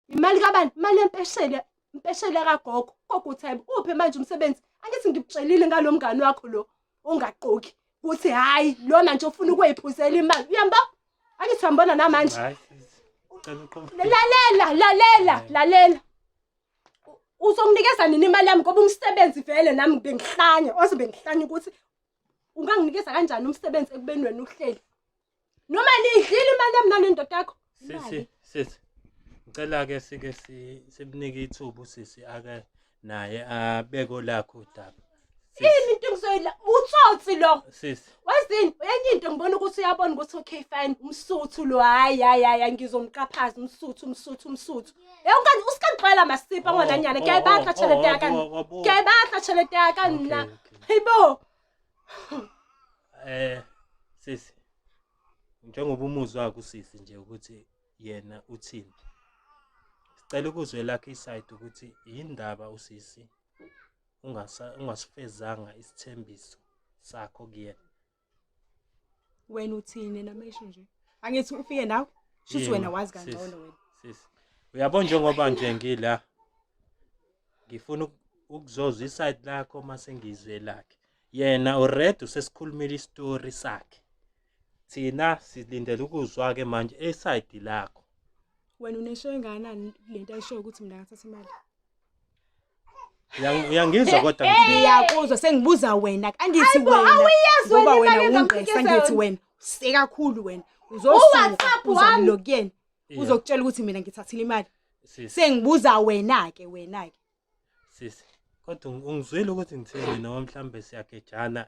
imali kabani imali yempeshela impeshela kagogo gogo uthi hayibo uphe manje umsebenzi angithi ngikutshelile ngalo mngani wakho lo ongaqoki ukuthi hhayi lona nje ufuna ukweyiphuzela imali uyamba angithi uyambona namanje lalela lalela lalela uzonginikeza nini imali yami ngoba umsebenzi vele nami bengihlanya oze bengihlanya ukuthi unganginikeza kanjani umsebenzi ekubeni wena uhleli noma niyidlile imali yami nanendoda yakho sisi sisi ngicela ke sike sibunike ithuba usisi ake naye abeko lakho udaba yini into engizoyila utsotsi lo sisi wazini enye into ngibona ukuthi uyabona ukuthi okay fine umsuthu lo hayi hayi hayi ngizomqaphaza umsuthu umsuthu umsuthu yonke usikagcwala masipa ngwananyana oh, oh, kuyayibakha oh, tshelete yakani kuyayibakha tshelete yakani na Hayibo. Eh sisi. Njengoba umuzwa wakho sisi nje ukuthi yena uthini. Sicela ukuzwe lakhe iside ukuthi yindaba usisi ungasa ungasifezanga isithembiso sakho kuyena. wena uthini noma isho nje angithi ufike nawe shuthi wena wazi kangcono wena sisi uyabo njengoba nje ngila ngifuna ukuzozwa iside lakho uma sengizwe lakhe yena ured usesikhulumile istory sakhe thina silindele ukuzwa ke manje eside lakho wena unesho engakanani lento ayishoyo ukuthi mina ngathatha imali Uyang- uyangizwa kodwa ngithini? ngiyakuzwa sengibuza wena angithi Hayibo, wena awuyazi wena ngoba wena imali wungqesa engamfikisa ngithi yona. wena sekakhulu wena U-WhatsApp wami. uzosuzalo kuyena Yeah. uzokutshela ukuthi mina ngithathile imali Sisi, sengibuza wena-ke wena-ke sisi. Kodwa ung- ungizwile ukuthi ngithini noma mhlambe siyagejana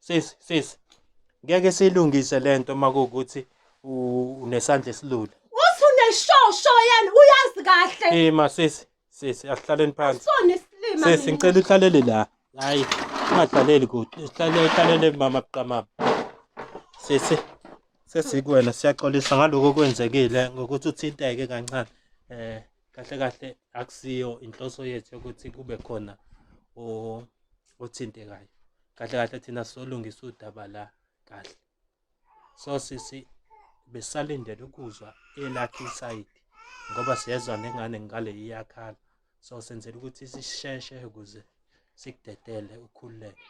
sisi sisi ngeke silungise lento makukuthi unesandla esilula uthi uneshosho yena uyazi kahle ima sisi sisi asihlaleni phansi sona isilima sisi ngicela uhlalele la hayi ungadlaleli kude sihlale hlalele mama buqamama sisi sesikuwena siyaxolisa ngaloko okwenzekile ngokuthi uthinteke kancane eh kahle kahle akusiyo inhloso yethu yokuthi kube khona othintekayo kahle kahle thina solungisa udaba la kahle so sisi besalindele ukuzwa elakhe isayidi ngoba siyezwa nengane ngale iyakhala so senzela ukuthi sisheshe ukuze sikudedele ukhululeke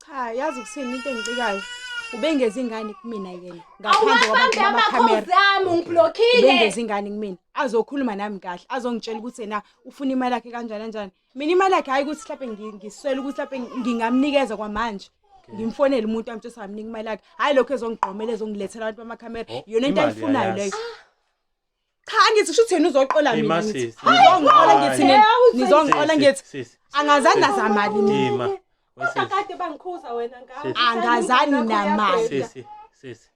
cha yazi kusini into engicikayo ubengezi ingane kumina yena ngaphandle kwabantu bamakhamera ungiblockile ubengezi ingane kumina azokhuluma nami kahle azongitshela ukuthi yena ufuna imali yakhe kanjani kanjani mina imali yakhe hayi ukuthi mhlawumbe ngiswele ukuthi mhlawumbe ngingamnikeza kwamanje ngimfonele umuntu amthi samnika imali yakhe hayi lokho ezongigqomela ezongilethela abantu bamakhamera oh, yona into ayifunayo leyo cha angithi kusho ukuthi yena uzoqola Hey, mina ma, ngithi sis, Hayi, nizongiqola hayi. ngithi nina nizongiqola ngithi Sisi, angazani nazamali mina Dima. Kodwa Wesisi, kade bangikhuza wena ngawo. Sisi. Angazani Nakho namali. yabheda. sisi, sisi.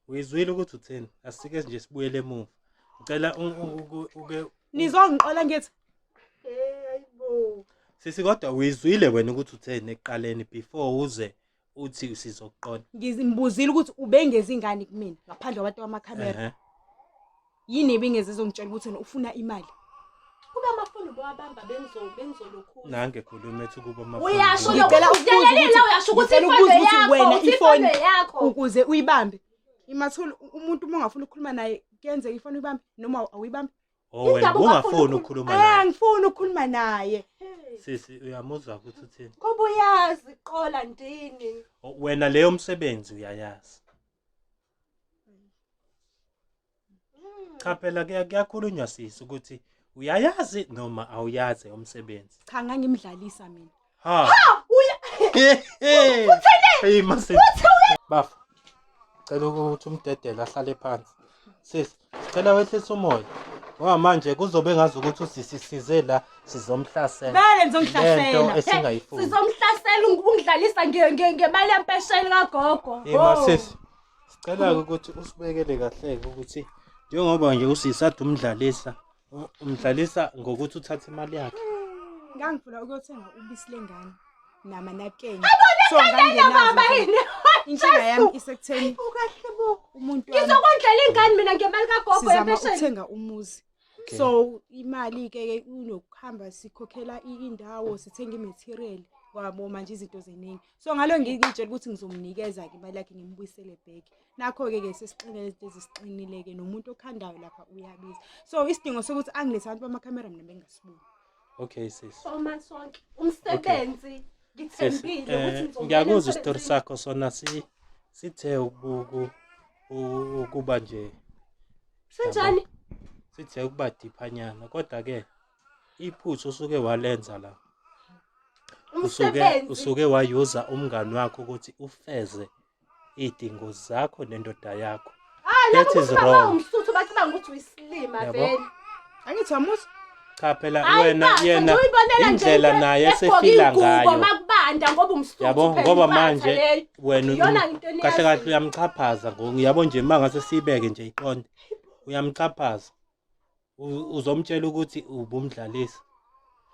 Uyizwile ukuthi utheni? Asike nje sibuyele emuva. Ngicela u- u- uke- uke nizongiqola ngithi Eh, hayibo. Sisi kodwa uyizwile wena ukuthi utheni ekuqaleni before uze uthi usizokuqola ngimbuzile ukuthi ubengezi ingane kumina ngaphandle kwabantu bamakhamera Ehhe. yini ebingeze ezongitshela ukuthi wena ufuna imali kuba amafoni bowabamba bengizo- bengizolokhula nange khuluma ethi ukuba amafoni. uyasho Ngicela lokhu ukubuza udelela ukuthi- uyasho ukuthi ngicela ifoni ukubuza ukuthi yakho wena ukuthi ifoni ifoni yakho ukuze uyibambe imathula umuntu uma ungafuni ukukhuluma naye kuyenzeka ifoni uyibambe noma awuyibambe Oh wena Indaba ungafuni ungafuni ukukhuluma Eh, naye. angifuni ukukhuluma naye Sisi uyamuzwa ukuthi uthini? kuba uyazi qola ndini O- Wena leyo msebenzi uyayazi. Cha phela kuya- kuyakhulunywa sisi ukuthi uyayazi noma awuyazi umsebenzi. cha ngangimdlalisa mina Ha. Ha uya. Hey mase. Bafo. Cela ukuthi umdedele ahlale phansi. Sis, cela wehlisa umoya. Ngoba manje kuzobe ngazi ukuthi usisisize la sizomhlasela. Vele ngizongihlasela. Lento esingayifuni. Sizomhlasela ungidlalisa nge- nge- ngemali yempesheni kagogo. Hey Oh. masisi. Sicela ukuthi usibekele kahle ukuthi njengoba nje usisathu umdlalisa umdlalisa ngokuthi uthathe imali yakhe ngangifuna ukuyothenga ubisi lengane namanakeni so inkinga yami isekutheni umuntu ngizokondlela ingane mina ngemali kagogo yempesheni uthenga umuzi so imali ke unokuhamba sikhokhela indawo sithenga imaterial wabo manje izinto zeningi so ngalo ngitshela ukuthi ngizomnikeza ke imali yakhe ngimbuyisele back nakho-ke ke sesixinele izinto ezisiqinile-ke nomuntu okhandayo lapha uyabiza so isidingo sokuthi angilethe abantu bamakhamera mina bengasiboni okay sis soma sonke umsebenzi ngithembile eh, ukuthi ngiyakuzwa isitori sakho sona si sithe ukubuku ukuba nje sinjani sithe ukuba diphanyana kodwa ke iphuthu usuke walenza la usuke usuke wayuza umngani wakho ukuthi ufeze idingo zakho nendoda yakho that is wrong umsuthu bacabanga ukuthi uyisilima vele angithi wamusa cha phela wena yena indlela naye esefila ngayo makubanda ngoba umsuthu yabo ngoba manje wena kahle kahle uyamchaphaza ngiyabo nje mangase sibeke nje iqonde uyamchaphaza uzomtshela ukuthi ubumdlalisa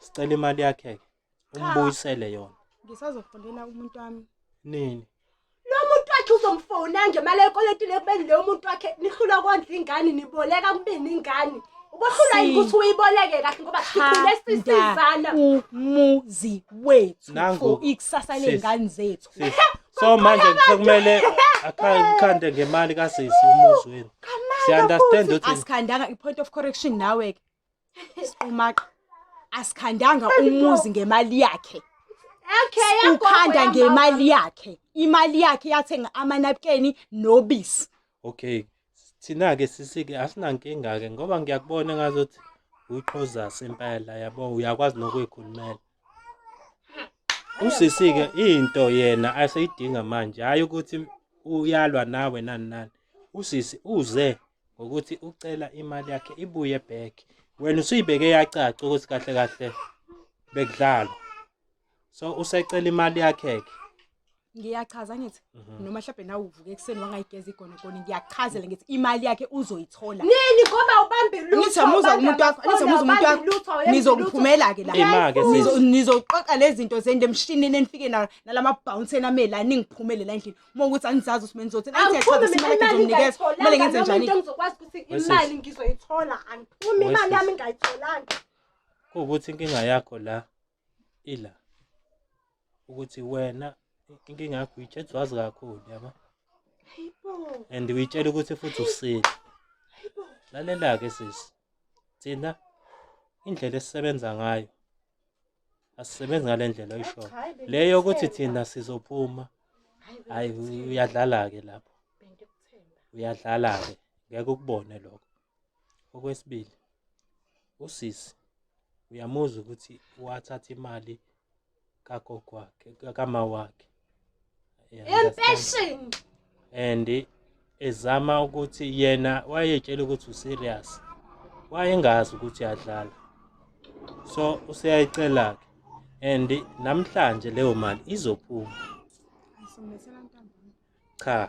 sicela imali yakhe ke umbuyisele yona ngisazofundela umuntu wami nini lo muntu wakhe uzomfona nje mali ekoletile kubeni leyo muntu wakhe nihlula kondla ingane niboleka kubeni ingane ubohlula yini ukuthi uyiboleke kahle ngoba sikhule sisizana umuzi wethu for ikusasa lengane zethu so manje sekumele akhande ngemali kasisi umuzi wenu siya understand ukuthi asikhandanga i point of correction nawe ke Siqumaqa asikhandanga umuzi ngemali yakhe. Okay, ukhanda ngemali yakhe. Imali yakhe yathenga amanapukeni nobisi. Okay. Thina ke sisike asinankinga ke ngoba ngiyakubona ngazothi uyiqhoza sempela yabo uyakwazi nokuyikhulumela. Usisi-ke into yena aseyidinga manje hhayi ukuthi uyalwa nawe nani nani. Usisi uze ngokuthi ucela imali yakhe ibuye back. Wena usuyibeke yacaca ukuthi kahle kahle bekudlalwa. So usecela imali yakhe-ke. ngiyachaza ngithi mhm. noma mhlawumbe nawe uvuke ekuseni wangayigeza igonegone ngiyachazela ngithi imali yakhe uzoyithola nini ngoba ubambe lutho ngizomuza umuntu wakho ngizomuza umuntu wakho nizokuphumela ke la imake nizoqoqa lezi zinto zende emshinini enifike nayo nalama bounce ename la ningiphumele la endlini uma ukuthi anizazi usime nizothi athi yachaza imali yakhe ngizomnikeza kumele ngenze njani ngizokwazi ukuthi imali ngizoyithola angiphumi imali yami ngayitholanga ukuthi inkinga yakho la ila ukuthi wena inkinga yakho uyitshela wazi kakhulu yabo and uyitshela ukuthi futhi usile lalela-ke sisi thina indlela esisebenza ngayo asisebenzi ngale ndlela oyishoyo le yokuthi thina sizophuma hhayi uyadlala-ke lapho uyadlala-ke ngeke ukubone lokho Okwesibili, usisi uyamuzwa ukuthi wathatha imali kagogo wakhe kama wakhe impesheni and ezama ukuthi yena wayetshela ukuthi userious wayengazi ukuthi yadlala so useyayicela ke and namhlanje leyo mali izophuma cha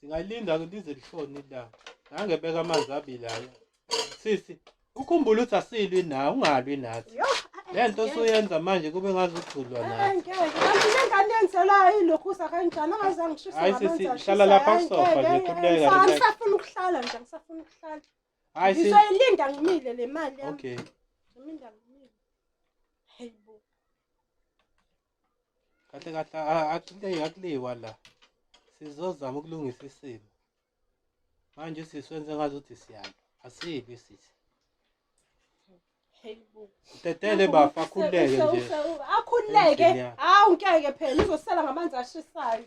Singalinda ke lize lishone ilanga. Nange beka amanzi abili aya. Sisi, ukhumbula ukuthi asilwi nawe, ungalwi nathi. Yo, Lento osuyenza manje kube ngazi uthulwa nathi. angeke. Kanti le ngane yenzelayo ilokhu uza kanjani angaze angishise Hayi, ngamanzi sisi, ashisa. hlala lapha Hayi, kusofa ngeke, nje, ngeke. khululeka, Ngisa- relax. Angisafuni ukuhlala nje, angisafuni ukuhlala. Hayi sisi. Ngizoyilinda ngimile le mali yami. Okay. Ngizoyilinda ngimile. Hey bo. kahle kahle akuleyi akuleyiwa la sizozama ukulungisa isimo manje sisi wenze ngazi ukuthi siyalo asibi sisi Tetele bafo akhululeke nje. Akhululeke. Hawu ngeke phela uzosela ngamanzi ashisayo.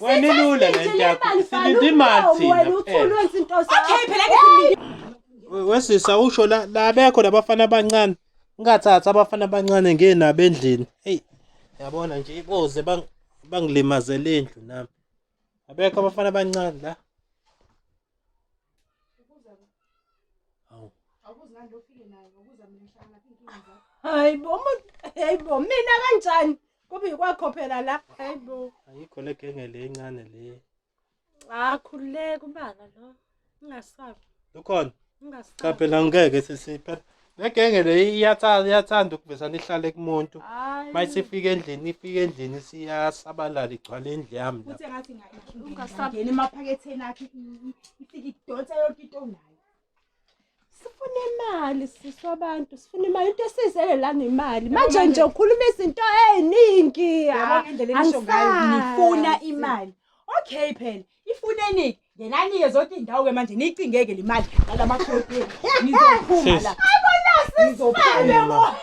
Wena ilula le nto yakho. Silinde imali thina. Wena uthulwe izinto zakho. Okay phela ke silinde. Wesisa usho la labekho labafana abancane. Ngathatha abafana abancane ngenabo endlini. Hey. Yabona nje iboze bang bangilimazele indlu nami. Abekho abafana abancane la. Hayi bo, hayi bo, mina kanjani? Kubi kwakho phela la. Hayibo. Ayikho le genge le encane le. Ah khululeka ubala lo. Ungasabi. Ukhona. Ungasabi. Cha phela ngeke sisiphe. Le genge le iyathanda iyathanda ukuvesa nihlale kumuntu. Mayisifika endlini ifika endlini siyasabalala igcwala indlu yami la. Kuthi ngathi ngayishunga. Ungasabi. Ngene emaphaketheni akhe ifike idonsa yonke into onayo. sifuna imali siswa abantu sifuna imali into esizele la nemali manje nje ukhuluma izinto eziningi yabona indlela enisho ngayo nifuna imali okay phela ifuneni ngenanike zonke izindawo ke manje niyicingeke le mali ngalamakhodi nizophuma la ayibona sisifane